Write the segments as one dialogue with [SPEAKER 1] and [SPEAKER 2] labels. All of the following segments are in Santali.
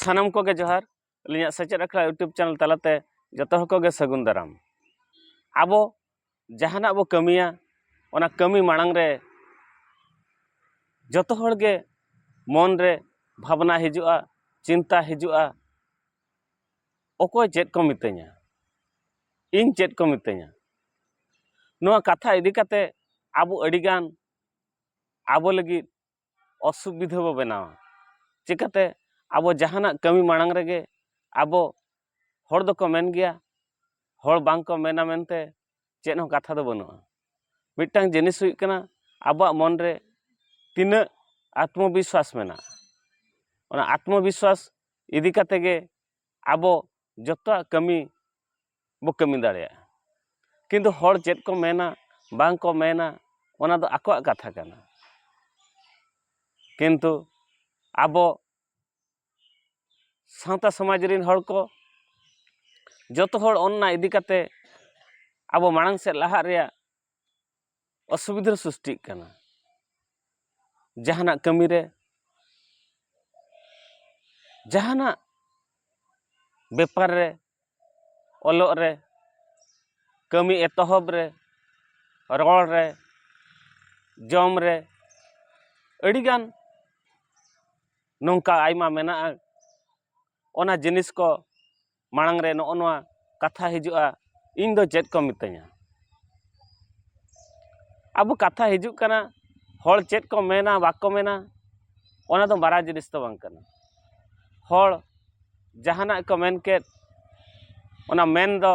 [SPEAKER 1] ᱥᱟᱱᱟᱢ ᱠᱚᱜᱮ ᱡᱚᱦᱟᱨ ᱟᱹᱞᱤᱧᱟᱜ ᱥᱮᱪᱮᱫ ᱟᱠᱷᱲᱟ ᱤᱭᱩᱴᱩᱵᱽ ᱪᱮᱱᱮᱞ ᱛᱟᱞᱟᱛᱮ ᱡᱚᱛᱚ ᱦᱚᱲ ᱠᱚᱜᱮ ᱥᱟᱹᱜᱩᱱ ᱫᱟᱨᱟᱢ ᱟᱵᱚ ᱡᱟᱦᱟᱱᱟᱜ ᱵᱚ ᱠᱟᱹᱢᱤᱭᱟ ᱚᱱᱟ ᱠᱟᱹᱢᱤ ᱢᱟᱲᱟᱝ ᱨᱮ ᱡᱚᱛᱚ ᱦᱚᱲ ᱜᱮ ᱢᱚᱱ ᱨᱮ ᱵᱷᱟᱵᱽᱱᱟ ᱦᱤᱡᱩᱜᱼᱟ ᱪᱤᱱᱛᱟ ᱦᱤᱡᱩᱜᱼᱟ ᱚᱠᱚᱭ ᱪᱮᱫ ᱠᱚ ᱢᱤᱛᱟᱹᱧᱟ ᱤᱧ ᱪᱮᱫ ᱠᱚ ᱢᱤᱛᱟᱹᱧᱟ ᱱᱚᱣᱟ ᱠᱟᱛᱷᱟ ᱤᱫᱤ ᱠᱟᱛᱮ ᱟᱵᱚ ᱟᱹᱰᱤ ᱜᱟᱱ ᱟᱵᱚ ᱞᱟᱹᱜᱤᱫ ᱚᱥᱩᱵᱤᱫᱷᱟᱹ ᱵᱚ ᱵᱮᱱᱟᱣᱟ ᱪᱤᱠᱟᱹᱛᱮ ᱟᱵᱚ ᱡᱟᱦᱟᱱᱟᱜ ᱠᱟᱹᱢᱤ ᱢᱟᱲᱟᱝ ᱨᱮᱜᱮ ᱟᱵᱚ ᱦᱚᱲ ᱫᱚᱠᱚ ᱢᱮᱱ ᱜᱮᱭᱟ ᱦᱚᱲ ᱵᱟᱝ ᱠᱚ ᱢᱮᱱᱟ ᱢᱮᱱᱛᱮ ᱪᱮᱫ ᱦᱚᱸ ᱠᱟᱛᱷᱟ ᱫᱚ ᱵᱟᱹᱱᱩᱜᱼᱟ ᱢᱤᱫᱴᱟᱝ ᱡᱤᱱᱤᱥ ᱦᱩᱭᱩᱜ ᱠᱟᱱᱟ ᱟᱵᱚᱣᱟᱜ ᱢᱚᱱ ᱨᱮ ᱛᱤᱱᱟᱹᱜ ᱟᱛᱢᱚ ᱵᱤᱥᱥᱟᱥ ᱢᱮᱱᱟᱜᱼᱟ ᱚᱱᱟ ᱟᱛᱢᱚ ᱵᱤᱥᱥᱟᱥ ᱤᱫᱤ ᱠᱟᱛᱮ ᱜᱮ ᱟᱵᱚ ᱡᱚᱛᱚᱣᱟᱜ ᱠᱟᱹᱢᱤ ᱵᱚ ᱠᱟᱹᱢᱤ ᱫᱟᱲᱮᱭᱟᱜᱼᱟ ᱠᱤᱱᱛᱩ ᱦᱚᱲ ᱪᱮᱫ ᱠᱚ ᱢᱮᱱᱟ ᱵᱟᱝ ᱠᱚ ᱢᱮᱱᱟ ᱚᱱᱟ ᱫᱚ ᱟᱠᱚᱣᱟᱜ ᱠᱟᱛᱷᱟ ᱠᱟᱱᱟ ᱠᱤᱱᱛᱩ ᱟᱵᱚ ᱥᱟᱶᱛᱟ ᱥᱚᱢᱟᱡᱽ ᱨᱮᱱ ᱦᱚᱲ ᱠᱚ ᱡᱚᱛᱚ ᱦᱚᱲ ᱚᱱᱟ ᱤᱫᱤ ᱠᱟᱛᱮ ᱟᱵᱚ ᱢᱟᱲᱟᱝ ᱥᱮᱫ ᱞᱟᱦᱟᱜ ᱨᱮᱭᱟᱜ ᱚᱥᱩᱵᱤᱫᱷᱟ ᱥᱨᱤᱥᱴᱤᱜ ᱠᱟᱱᱟ ᱡᱟᱦᱟᱱᱟᱜ ᱠᱟᱹᱢᱤ ᱨᱮ ᱡᱟᱦᱟᱱᱟᱜ ᱵᱮᱯᱟᱨ ᱨᱮ ᱚᱞᱚᱜ ᱨᱮ ᱠᱟᱹᱢᱤ ᱮᱛᱚᱦᱚᱵ ᱨᱮ ᱨᱚᱲ ᱨᱮ ᱡᱚᱢ ᱨᱮ ᱟᱹᱰᱤ ᱜᱟᱱ ᱱᱚᱝᱠᱟ ᱟᱭᱢᱟ ᱢᱮᱱᱟᱜᱼᱟ ᱚᱱᱟ ᱡᱤᱱᱤᱥ ᱠᱚ ᱢᱟᱲᱟᱝ ᱨᱮ ᱱᱚᱜᱼᱚ ᱱᱚᱣᱟ ᱠᱟᱛᱷᱟ ᱦᱤᱡᱩᱜᱼᱟ ᱤᱧ ᱫᱚ ᱪᱮᱫ ᱠᱚ ᱢᱤᱛᱟᱹᱧᱟ ᱟᱵᱚ ᱠᱟᱛᱷᱟ ᱦᱤᱡᱩᱜ ᱠᱟᱱᱟ ᱦᱚᱲ ᱪᱮᱫ ᱠᱚ ᱢᱮᱱᱟ ᱵᱟᱠᱚ ᱢᱮᱱᱟ ᱚᱱᱟ ᱫᱚ ᱢᱟᱨᱟᱝ ᱡᱤᱱᱤᱥ ᱫᱚ ᱵᱟᱝ ᱠᱟᱱᱟ ᱦᱚᱲ ᱡᱟᱦᱟᱱᱟᱜ ᱠᱚ ᱢᱮᱱ ᱠᱮᱫ ᱚᱱᱟ ᱢᱮᱱ ᱫᱚ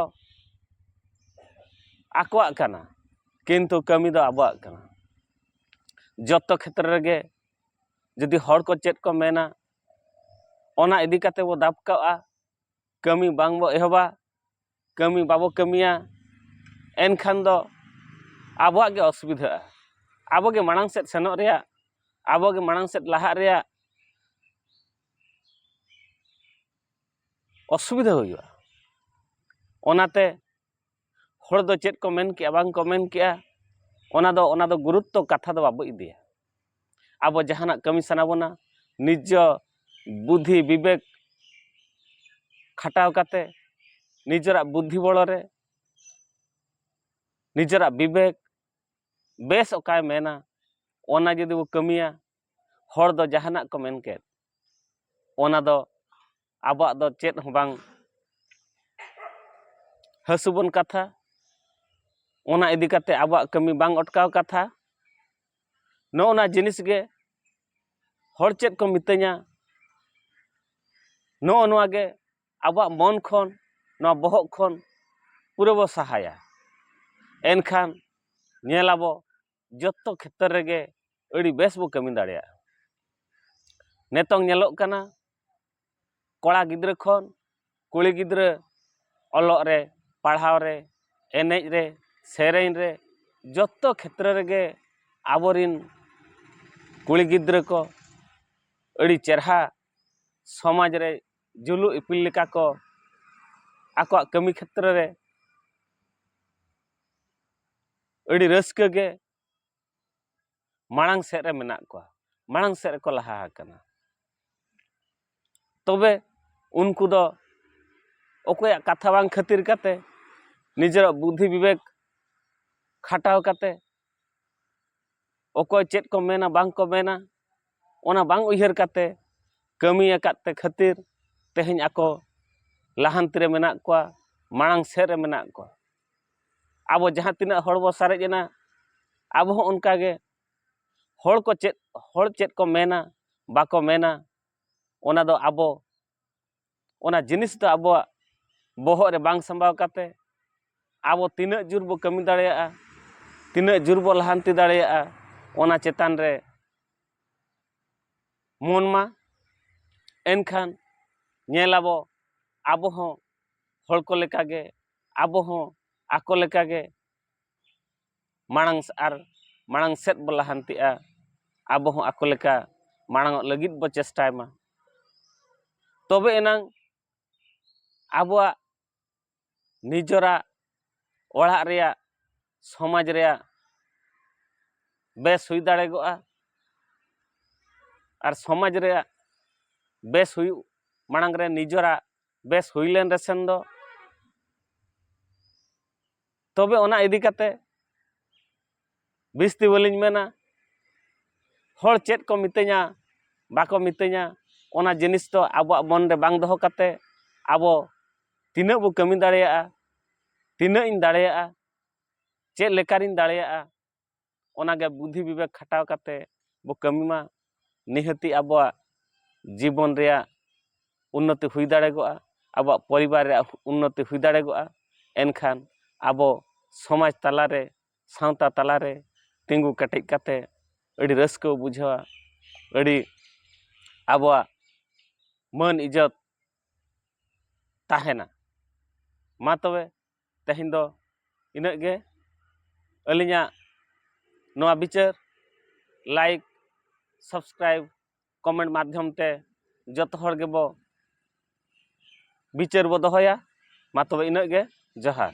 [SPEAKER 1] ᱟᱠᱚᱣᱟᱜ ᱠᱟᱱᱟ ᱠᱤᱱᱛᱩ ᱠᱟᱹᱢᱤ ᱫᱚ ᱟᱵᱚᱣᱟᱜ ᱠᱟᱱᱟ ᱡᱚᱛᱚ ᱠᱷᱮᱛᱨᱮ ᱨᱮᱜᱮ ᱡᱩᱫᱤ ᱦᱚᱲ ᱠᱚ ᱪᱮᱫ ᱠᱚ ᱢᱮᱱᱟ ᱚᱱᱟ ᱤᱫᱤ ᱠᱟᱛᱮ ᱵᱚ ᱫᱟᱵ ᱠᱟᱜᱼᱟ ᱠᱟᱹᱢᱤ ᱵᱟᱝ ᱵᱚ ᱮᱦᱚᱵᱟ ᱠᱟᱹᱢᱤ ᱵᱟᱵᱚ ᱠᱟᱹᱢᱤᱭᱟ ᱮᱱᱠᱷᱟᱱ ᱫᱚ ᱟᱵᱚᱣᱟᱜ ᱜᱮ ᱚᱥᱩᱵᱤᱫᱷᱟᱜᱼᱟ ᱟᱵᱚ ᱜᱮ ᱢᱟᱲᱟᱝ ᱥᱮᱫ ᱥᱮᱱᱚᱜ ᱨᱮᱭᱟᱜ ᱟᱵᱚ ᱜᱮ ᱢᱟᱲᱟᱝ ᱥᱮᱫ ᱞᱟᱦᱟᱜ ᱨᱮᱭᱟᱜ ᱚᱥᱩᱵᱤᱫᱷᱟ ᱦᱩᱭᱩᱜᱼᱟ ᱚᱱᱟᱛᱮ ᱦᱚᱲ ᱫᱚ ᱪᱮᱫ ᱠᱚ ᱢᱮᱱ ᱠᱮᱜᱼᱟ ᱵᱟᱝ ᱠᱚ ᱢᱮᱱ ᱠᱮᱜᱼᱟ ᱚᱱᱟ ᱫᱚ ᱚᱱᱟ ᱫᱚ ᱜᱩᱨᱩᱛᱛᱚ ᱠᱟᱛᱷᱟ ᱫᱚ ᱵᱟᱵᱚ ᱤᱫᱤᱭᱟ ᱟᱵᱚ ᱡᱟᱦᱟᱱᱟᱜ ᱠᱟᱹᱢᱤ ᱥᱟᱱᱟ ᱵᱚᱱᱟ ᱱᱤᱡᱚ ᱵᱩᱫᱷᱤ ᱵᱤᱵᱮᱠ ᱠᱷᱟᱴᱟᱣ ᱠᱟᱛᱮ ᱱᱤᱡᱮᱨᱟᱜ ᱵᱩᱫᱷᱤ ᱵᱚᱲᱚ ᱨᱮ ᱱᱤᱡᱮᱨᱟᱜ ᱵᱤᱵᱮᱠ ᱵᱮᱥ ᱚᱠᱟᱭ ᱢᱮᱱᱟ ᱚᱱᱟ ᱡᱩᱫᱤ ᱵᱚ ᱠᱟᱹᱢᱤᱭᱟ ᱦᱚᱲ ᱫᱚ ᱡᱟᱦᱟᱱᱟᱜ ᱠᱚ ᱢᱮᱱ ᱠᱮᱫ ᱚᱱᱟ ᱫᱚ ᱟᱵᱚᱣᱟᱜ ᱫᱚ ᱪᱮᱫ ᱦᱚᱸ ᱵᱟᱝ ᱦᱟᱹᱥᱩᱵᱚᱱ ᱠᱟᱛᱷᱟ ᱚᱱᱟ ᱤᱫᱤ ᱠᱟᱛᱮ ᱟᱵᱚᱣᱟᱜ ᱠᱟᱹᱢᱤ ᱵᱟᱝ ᱚᱴᱠᱟᱣ ᱠᱟᱛᱷᱟ ᱱᱚᱜᱼᱚ ᱱᱟ ᱡᱤᱱᱤᱥ ᱜᱮ ᱦᱚᱲ ᱪᱮᱫ ᱠᱚ ᱢᱤᱛᱟᱹᱧᱟ ᱱᱚᱜᱼᱚ ᱱᱚᱣᱟ ᱜᱮ ᱟᱵᱚᱣᱟᱜ ᱢᱚᱱ ᱠᱷᱚᱱ ᱱᱚᱣᱟ ᱵᱚᱦᱚᱜ ᱠᱷᱚᱱ ᱯᱩᱨᱟᱹ ᱵᱚ ᱥᱟᱦᱟᱭᱟ ᱮᱱᱠᱷᱟᱱ ᱧᱮᱞᱟᱵᱚ ᱡᱚᱛᱚ ᱠᱷᱮᱛᱨᱮ ᱨᱮᱜᱮ ᱟᱹᱰᱤ ᱵᱮᱥ ᱵᱚ ᱠᱟᱹᱢᱤ ᱫᱟᱲᱮᱭᱟᱜᱼᱟ ᱱᱤᱛᱚᱝ ᱧᱮᱞᱚᱜ ᱠᱟᱱᱟ ᱠᱚᱲᱟ ᱜᱤᱫᱽᱨᱟᱹ ᱠᱷᱚᱱ ᱠᱩᱲᱤ ᱜᱤᱫᱽᱨᱟᱹ ᱚᱞᱚᱜ ᱨᱮ ᱯᱟᱲᱦᱟᱣ ᱨᱮ ᱮᱱᱮᱡ ᱨᱮ ᱥᱮᱨᱮᱧ ᱨᱮ ᱡᱚᱛᱚ ᱠᱷᱮᱛᱨᱮ ᱨᱮᱜᱮ ᱟᱵᱚᱨᱤᱱ ᱠᱩᱲᱤ ᱜᱤᱫᱽᱨᱟᱹ ᱠᱚ ᱟᱹᱰᱤ ᱪᱮᱨᱦᱟ ᱥᱚᱢᱟᱡᱽ ᱨᱮ ᱡᱩᱞᱩᱜ ᱤᱯᱤᱞ ᱞᱮᱠᱟ ᱠᱚ ᱟᱠᱚᱣᱟᱜ ᱠᱟᱹᱢᱤ ᱠᱷᱮᱛᱨᱮ ᱨᱮ ᱟᱹᱰᱤ ᱨᱟᱹᱥᱠᱟᱹ ᱜᱮ ᱢᱟᱲᱟᱝ ᱥᱮᱫ ᱨᱮ ᱢᱮᱱᱟᱜ ᱠᱚᱣᱟ ᱢᱟᱲᱟᱝ ᱥᱮᱫ ᱨᱮᱠᱚ ᱞᱟᱦᱟ ᱟᱠᱟᱱᱟ ᱛᱚᱵᱮ ᱩᱱᱠᱩ ᱫᱚ ᱚᱠᱚᱭᱟᱜ ᱠᱟᱛᱷᱟ ᱵᱟᱝ ᱠᱷᱟᱹᱛᱤᱨ ᱠᱟᱛᱮ ᱱᱤᱡᱮᱨᱟᱜ ᱵᱩᱫᱷᱤ ᱵᱤᱵᱮᱠ ᱠᱷᱟᱴᱟᱣ ᱠᱟᱛᱮ ᱚᱠᱚᱭ ᱪᱮᱫ ᱠᱚ ᱢᱮᱱᱟ ᱵᱟᱝ ᱠᱚ ᱢᱮᱱᱟ ᱚᱱᱟ ᱵᱟᱝ ᱩᱭᱦᱟᱹᱨ ᱠᱟᱛᱮ ᱠᱟᱹᱢᱤ ᱟᱠᱟᱫ ᱛᱮ ᱠᱷᱟᱹᱛᱤᱨ ᱛᱮᱦᱮᱧ ᱟᱠᱚ ᱞᱟᱦᱟᱱᱛᱤ ᱨᱮ ᱢᱮᱱᱟᱜ ᱠᱚᱣᱟ ᱢᱟᱲᱟᱝ ᱥᱮᱫ ᱨᱮ ᱢᱮᱱᱟᱜ ᱠᱚᱣᱟ ᱟᱵᱚ ᱡᱟᱦᱟᱸ ᱛᱤᱱᱟᱹᱜ ᱦᱚᱲ ᱵᱚ ᱥᱟᱨᱮᱡ ᱮᱱᱟ ᱟᱵᱚ ᱦᱚᱸ ᱚᱱᱠᱟ ᱜᱮ ᱦᱚᱲ ᱠᱚ ᱪᱮᱫ ᱦᱚᱲ ᱪᱮᱫ ᱠᱚ ᱢᱮᱱᱟ ᱵᱟᱠᱚ ᱢᱮᱱᱟ ᱚᱱᱟ ᱫᱚ ᱟᱵᱚ ᱚᱱᱟ ᱡᱤᱱᱤᱥ ᱫᱚ ᱟᱵᱚᱣᱟᱜ ᱵᱚᱦᱚᱜ ᱨᱮ ᱵᱟᱝ ᱥᱟᱢᱵᱟᱣ ᱠᱟᱛᱮ ᱟᱵᱚ ᱛᱤᱱᱟᱹᱜ ᱡᱳᱨ ᱵᱚ ᱠᱟᱹᱢᱤ ᱫᱟᱲᱮᱭᱟᱜᱼᱟ ᱛᱤᱱᱟᱹᱜ ᱡᱳᱨ ᱵᱚ ᱞᱟᱦᱟᱱᱛᱤ ᱫᱟᱲᱮᱭᱟᱜᱼᱟ ᱚᱱᱟ ᱪᱮᱛᱟᱱ ᱨᱮ ᱢᱚᱱ ᱢᱟ ᱮᱱᱠᱷᱟᱱ ᱧᱮᱞ ᱟᱵᱚ ᱟᱵᱚ ᱦᱚᱸ ᱦᱚᱲ ᱠᱚ ᱞᱮᱠᱟᱜᱮ ᱟᱵᱚ ᱦᱚᱸ ᱟᱠᱚ ᱞᱮᱠᱟ ᱜᱮ ᱢᱟᱲᱟᱝ ᱟᱨ ᱢᱟᱲᱟᱝ ᱥᱮᱫ ᱵᱚ ᱞᱟᱦᱟᱱᱛᱤᱜᱼᱟ ᱟᱵᱚ ᱦᱚᱸ ᱟᱠᱚ ᱞᱮᱠᱟ ᱢᱟᱲᱟᱝᱚᱜ ᱞᱟᱹᱜᱤᱫ ᱵᱚ ᱪᱮᱥᱴᱟᱭ ᱢᱟ ᱛᱚᱵᱮ ᱮᱱᱟᱝ ᱟᱵᱚᱣᱟᱜ ᱱᱤᱡᱚᱨᱟᱜ ᱚᱲᱟᱜ ᱨᱮᱭᱟᱜ ᱥᱚᱢᱟᱡᱽ ᱨᱮᱭᱟᱜ ᱵᱮᱥ ᱦᱩᱭ ᱫᱟᱲᱮᱜᱚᱜᱼᱟ ᱟᱨ ᱥᱚᱢᱟᱡᱽ ᱨᱮᱭᱟᱜ ᱵᱮᱥ ᱦᱩᱭᱩᱜ ᱢᱟᱲᱟᱝ ᱨᱮ ᱱᱤᱡᱚᱨᱟᱜ ᱵᱮᱥ ᱦᱩᱭ ᱞᱮᱱ ᱨᱮᱥᱮᱱ ᱫᱚ ᱛᱚᱵᱮ ᱚᱱᱟ ᱤᱫᱤ ᱠᱟᱛᱮ ᱵᱤᱥᱛᱤ ᱵᱟᱹᱞᱤᱧ ᱢᱮᱱᱟ ᱦᱚᱲ ᱪᱮᱫ ᱠᱚ ᱢᱤᱛᱟᱹᱧᱟ ᱵᱟᱠᱚ ᱢᱤᱛᱟᱹᱧᱟ ᱚᱱᱟ ᱡᱤᱱᱤᱥ ᱫᱚ ᱟᱵᱚᱣᱟᱜ ᱢᱚᱱ ᱨᱮ ᱵᱟᱝ ᱫᱚᱦᱚ ᱠᱟᱛᱮ ᱟᱵᱚ ᱛᱤᱱᱟᱹᱜ ᱵᱚ ᱠᱟᱹᱢᱤ ᱫᱟᱲᱮᱭᱟᱜᱼᱟ ᱛᱤᱱᱟᱹᱜ ᱤᱧ ᱫᱟᱲᱮᱭᱟᱜᱼᱟ ᱪᱮᱫ ᱞᱮᱠᱟᱨᱤᱧ ᱫᱟᱲᱮᱭᱟᱜᱼᱟ ᱚᱱᱟᱜᱮ ᱵᱩᱫᱷᱤ ᱵᱤᱵᱮᱠ ᱠᱷᱟᱴᱟᱣ ᱠᱟᱛᱮ ᱵᱚ ᱠᱟᱹᱢᱤ ᱢᱟ ᱱᱤᱦᱟᱹᱛᱤ ᱟᱵᱚᱣᱟᱜ ᱡᱤᱵᱚᱱ ᱨᱮᱭᱟᱜ ᱩᱱᱱᱚᱛᱤ ᱦᱩᱭ ᱫᱟᱲᱮᱜᱚᱜᱼᱟ ᱟᱵᱚᱣᱟᱜ ᱯᱚᱨᱤᱵᱟᱨ ᱨᱮᱭᱟᱜ ᱩᱱᱱᱚᱛᱤ ᱦᱩᱭ ᱫᱟᱲᱮᱜᱚᱜᱼᱟ ᱮᱱᱠᱷᱟᱱ ᱟᱵᱚ ᱥᱚᱢᱟᱡᱽ ᱛᱟᱞᱟ ᱨᱮ ᱥᱟᱶᱛᱟ ᱛᱟᱞᱟ ᱨᱮ ᱛᱤᱸᱜᱩ ᱠᱮᱴᱮᱡ ᱠᱟᱛᱮ ᱟᱹᱰᱤ ᱨᱟᱹᱥᱠᱟᱹ ᱵᱚ ᱵᱩᱡᱷᱟᱹᱣᱟ ᱟᱹᱰᱤ ᱟᱵᱚᱣᱟᱜ ᱢᱟᱹᱱ ᱤᱡᱽᱡᱚᱛ ᱛᱟᱦᱮᱱᱟ ᱢᱟ ᱛᱚᱵᱮ ᱛᱮᱦᱮᱧ ᱫᱚ ᱤᱱᱟᱹᱜ ᱜᱮ ᱟᱹᱞᱤᱧᱟᱜ ᱱᱚᱣᱟ ᱵᱤᱪᱟᱹᱨ ᱞᱟᱭᱤᱠ ᱥᱟᱵᱥᱠᱨᱟᱭᱤᱵᱽ ᱠᱚᱢᱮᱱᱴ ᱢᱟᱫᱽᱫᱷᱚᱢ ᱛᱮ ᱡᱚᱛᱚ ᱦᱚᱲ ᱜᱮᱵᱚ ᱵᱤᱪᱟᱹᱨ ᱵᱚ ᱫᱚᱦᱚᱭᱟ ᱢᱟ ᱛᱚᱵᱮ ᱤᱱᱟᱹᱜ ᱜᱮ ᱡᱚᱦᱟᱨ